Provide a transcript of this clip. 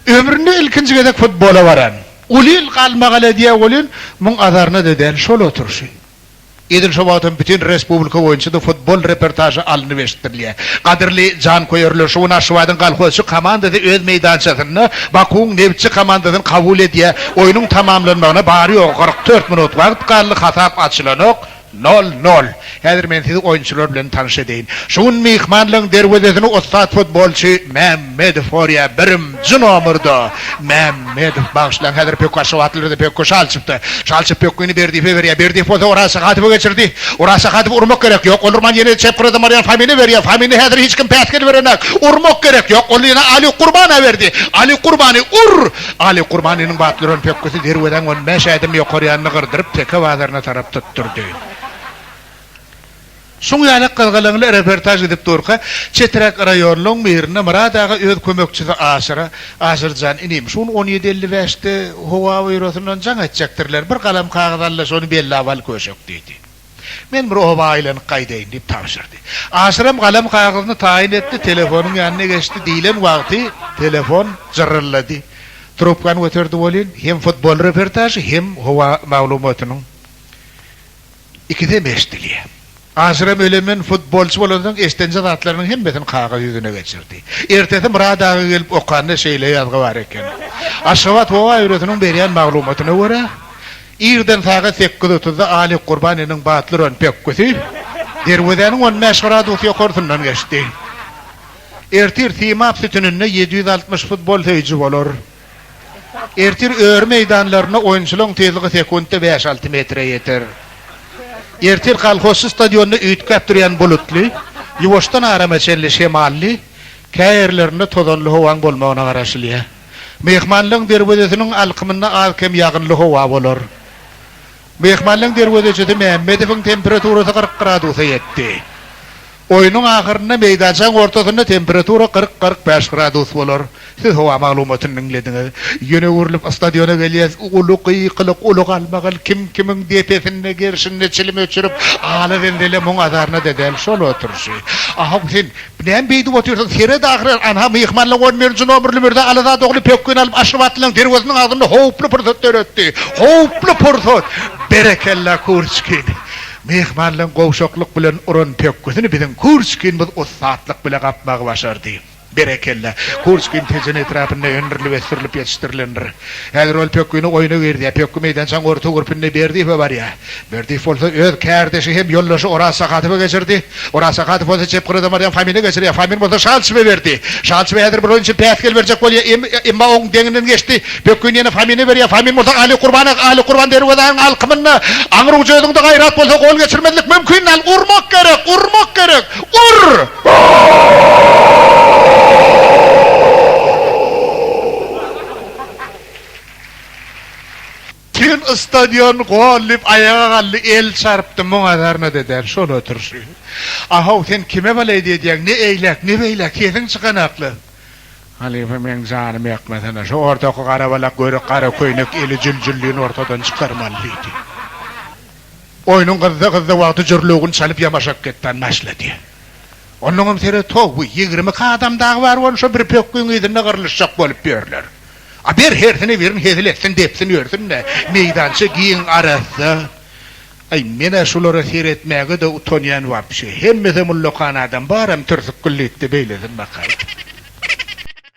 Ömründe ilkinji gezek futbola baran. Uly ýyl galmagal edýär welin, muň azaryna-da däl şol oturyşy. Edil şo wagtam bütin respublika boýunça-da futbol reportažy alnyp eşitdirilýär. Gadyrly janköýerler, şu gün Aşgabadyň Kolhozçy komandasy öz meýdançasynda Bakuwyň Nebitçi komandasyny kabul edýär. Oýnuň tamamlanmagyna bary-ýogy kyrk dört minut wagt galdy, hasap açylanok. Nol nol. Häzir men sizi oýunçylar bilen tanyş edeýin. Şu gün myhmanlygyň derwezesini ussat futbolçy Mämmedow gorýär. Birimji nomerda Mämmedow. Bagyşlaň, häzir pökgi aşgabatlylarda pökgi şal çypdy. Şal çyp pökgini Berdiýewe berýär. Berdiýew bolsa Oraz Sahadowa geçirdi. Oraz Sahadowa urmak gerek. Ýok, ol urman ýene çep gyradan barýan Famine berýär. Famine häzir hiç kim päsgel berenak. Urmak gerek. Ýok, ol ýene Aly Gurbana berdi. Aly Gurbany ur! Aly Kurbanynyň batly örän pökgüsi derwezäň on bäş ädim ýokary ýanyny gyrdyryp, Teke bazaryna tarap tutdurdy. Şuň ýaly gyzgalaňly reportaž gidip durka, çeträk raýonlaryň birinde Myrat aga öz kömekçisi Aşyra, Aşyrjan inim, şu gün on ýedi elli bäşde Howa Býurosyndan jaň etjekdirler, bir galam kagyz al-da, şony bellap al köşek diýdi. Men bir oba aýlanyp gaýdaýyn, diýip tabşyrdy. Aşyram galam kagyzyny taýyn etdi, telefonyň ýanyna geçdi. Diýlen wagty telefon jyryldady. Trubkany göterdi welin, hem futbol reportažy, hem howa maglumatynyň ikisem eşidilýär. Aşyram ölemen futbolçy bolansoň eşdenje zatlarynyň hemmesini kagyz ýüzüne geçirdi. Ertesi Myrad aga gelip okanda şeýle ýazgy bar eken, Aşgabat howa býurosynyň berýän maglumatyna görä, Irden sagat sekiz otuzda Aly Gurban iniň batly uran pökgüsi derwezäniň on bäş gradus ýokarsyndan geçdi. Ertir Simap sütüninde ýedi ýüz altmyş futbol söýüji bolar. Ertir öri meýdanlarynda oýunçylaryň tizligi sekuntda bäş-alty metre ýeter. Ertir Kolhozçy stadionynda üýtgäp durýan bulutly, ýuwaşdan arama çenli şemally, käýerlerinde tozanly howaň bolmagyna garaşylýar. Myhmanlaryň derwezesiniň alkymynda az-kem ýagynly howa bolar. Myhmanlaryň derwezeçisi Mämmedowyň temperaturasy kyrk gradusa ýetdi. Oýnuň ahyrynda meýdançaň ortasynda temperatura kyrk-kyrk bäş gradus bolar. Siz howa maglumatyny diňlediňiz. Ýene öwrülip stadiona gelýäs. Uly gykylyk, uly galmagal. Kim-kimiň depesinde, gerşinde çilim öçürip, ala-zenzele, muň-azaryna-da däl, şol oturyşy. Ahaw, sen. Näme beýdip otyrsyň, seret ahyry, ana, myhmanlaň on birinji nomerli mürze Alazat ogly pökgini alyp Aşyrabatlynyň derweziniň agzynda howply pursat döretdi. Howply pursat! Berekella, Kürçkin! Myhmanlaň gowşaklyk bilen uran pökgisini biziň Kürçkinimiz ussatlyk bile gapmagy başardy. Berekella! Kürçkin Tejen etrapynda öndürilip ösdürilip ýetişdirilendir. Häzir ol pökgini oýna girizýär. Pökgi meýdançaň orta gürpünde Berdiýewe barýar. Berdiýew bolsa öz kärdeşi hem ýoldaşy Oraz Sakadowa geçirdi. Oraz Sakadow bolsa çep gyrada Marýam Famini geçirýär. Famin bolsa Şalçyba berdi. Şalçyba häzir bir oýun üçin päsgel berjek bolýar, emma oň deňinden geçdi. Pökgini ýene Famine berýär. Famin bolsa Ali Kurbana. Ali Kurban derwezäniň alkymynda. Aňry ujedyňda gaýrat bolsa gol geçirmezlik mümkin däl. Urmak gerek! Urmak gerek! Ur! Sen stadion gol diýip aýaga galdy, el çarpdy, muňa zarna-da däl, şol oturyşy. A-how, sen kime balaýyt edýäň, ne eýläk, ne beýläk, sesiň çykan akly. Halypa, meň janym ýakmasana, şu ortaky garabalak görek gara köýnek eli jüljüllini ortadan çykarmaly diýdi. Oýnuň gyzdy-gyzdy wagty jürlügini çalyp ýamaşak getdan başlady. Onnoňam seret, ho-wi, ýigrimi iki adam dagy bar bolsa, bir pökgiň yzynda gyrlyşjak bolup ýörler. A ber hersine birin hezil etsin depsin ýörsün-de, meýdança giň arassa. Aý, men-ä şulara seretmäge-de utanýan wapşe. Hemmesem ullakan adam, baram türsükgül diýip-de beýlesin bakaý.